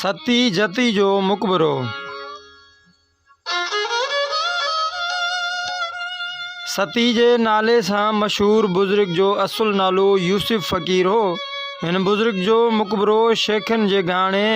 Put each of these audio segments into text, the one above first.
ستي جتي جو مقبرو ستي جي نالي سان مشهور بزرگ جو اصل نالو يوسف فقير هو هن بزرگ جو مقبرو شيخن جي گهاڻي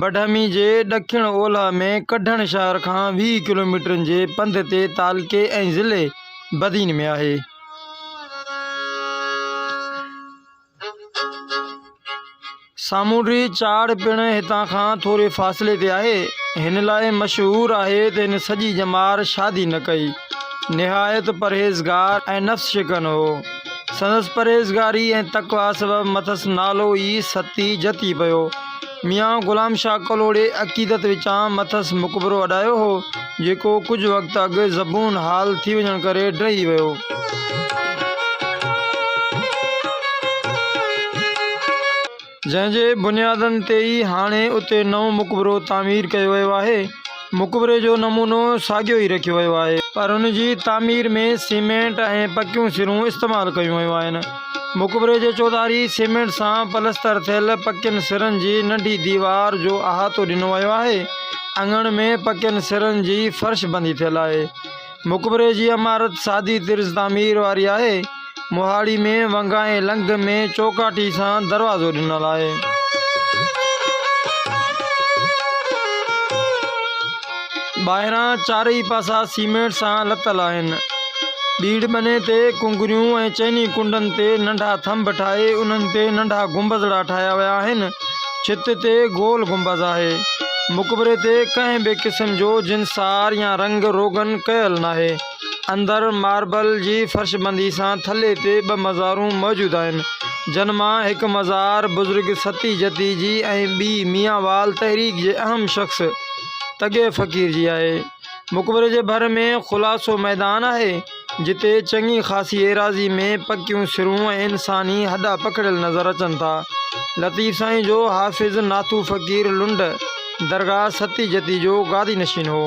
بڊهمي جي ڏکڻ اولهه ۾ ڪڍڻ شهر کان ويهه ڪلوميٽرن جي پنڌ تي تعلقي ۽ ضلعي بدين ۾ آهي سامونڊي چاڙهه پڻ هتان کان ٿوري فاصلي تي آهي. هن لاء مشهور آهي ته هن سڄي ڄمار شادي نه ڪئي. نهايت پرهيزگار ۽ نفس شڪن هو. سندس پرهيزگاري ۽ تقويٰ سبب مٿس نالو ئي ستي جتي پيو. ميان غلام شاهه ڪلهوڙي عقيدت وچان مٿس مقبرو اڏايو هو، جيڪو ڪجهه وقت اڳ زبون حال ٿي وڃڻ ڪري ڊهي ويو. جنهن جي بنيادن تي ئي هاڻي اتي نئون مقبرو تعمير ڪيو ويو آهي. مقبري جو نمونو ساڳيو ئي رکيو ويو آهي. پر ان جي تعمير ۾ سيمينٽ ۽ پڪيون سرون استعمال ڪيون ويون آهن. مقبري جي چوڌاري سيمينٽ سان پلستر ٿيل پڪين سرن جي ننڍي ديوار جو احاطو ڏنو ويو آهي. اڱڻ ۾ پڪين سرن جي فرش بندي ٿيل آهي. مقبري جي عمارت سادي طرز تعمير واري آهي. مهاڙي ۾ ونگائين لنگهه ۾ چوڪاٽي سان دروازو ڏنل آهي. ٻاهران چارئي پاسا سيمينٽ سان لتل آهن. ٻيڙ ٻني تي ڪنگريون ۽ چئني ڪنڊن تي ننڍا ٿنڀ ٺاهي انهن تي ننڍا گنبذڙا ٺاهيا ويا آهن. ڇت تي گول گنبذ آهي. مقبري تي ڪنهن به قسم جو جنسار يا رنگ روغن ڪيل ناهي. اندر ماربل جي فرشبندي سان ٿلهي تي ٻه مزارون موجود آهن، جن مان هڪ مزار بزرگ ستي جتي جي ۽ ٻي ميانوال تحريڪ جي اهم شخص تڳي فقير جي آهي. مقبري جي ڀر ۾ خلاصو ميدان آهي، جتي چڱي خاصي ايراضي ۾ پڪيون سرون ۽ انساني هڏا پکڙيل نظر اچن ٿا. لطيف سائين جو حافظ ناتو فقير لنڊ درگاهه ستي جتي جو گادي نشين هو.